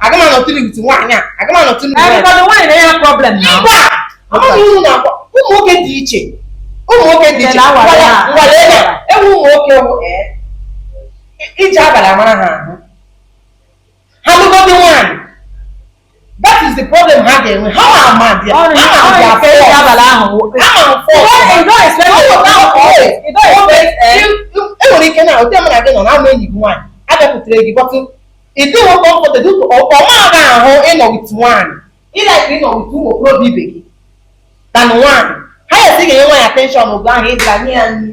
aga m anọtụli with nwaanyị a aga m anọtụli nwaanyị na ya problem mba amaghị unu na-akpọ ụmụ nwoke dị iche ụmụ nwoke dị iche e nwere ụmụ nwoke ije abalị amara ha ahụ ha lụgodi nwaanyị that is the problem ha ga-enwe ha ma ama dị ya Ọrụ- ha ma ọrụ dị ya ekele fọọ. abalị ahụ. ha ma fọ You don't- you don't expect it. You don't expect it. e nwere ike na ote mụ na gị nọ na ama enyi gị nwaanyị abịakwutere gị bọtụ ịdị nwe kọmfọtedụ ọma aga ahụ ịnọ wit nwaanyị ịlaik ịnọ wit ụmụ okorobịa ibe gị na nwaanyị ha ya esi ga-enye nwaanyị atenshọn oge ahụ ịbịa nye ya nri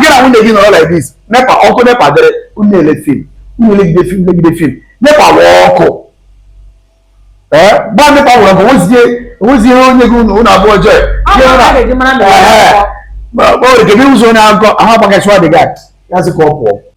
gị na nwunye gị nọrọ like this nepa ọkụ nepa dịrị unu ele film unu elegide film elegide film nepa were ọkụ gba nepa were ọkụ nwezie onye gị unu abụọ jee o nwere ike ị bụzi onye akụkọ ahụ agbakasịwa di gị ya sị ka ọ pụọ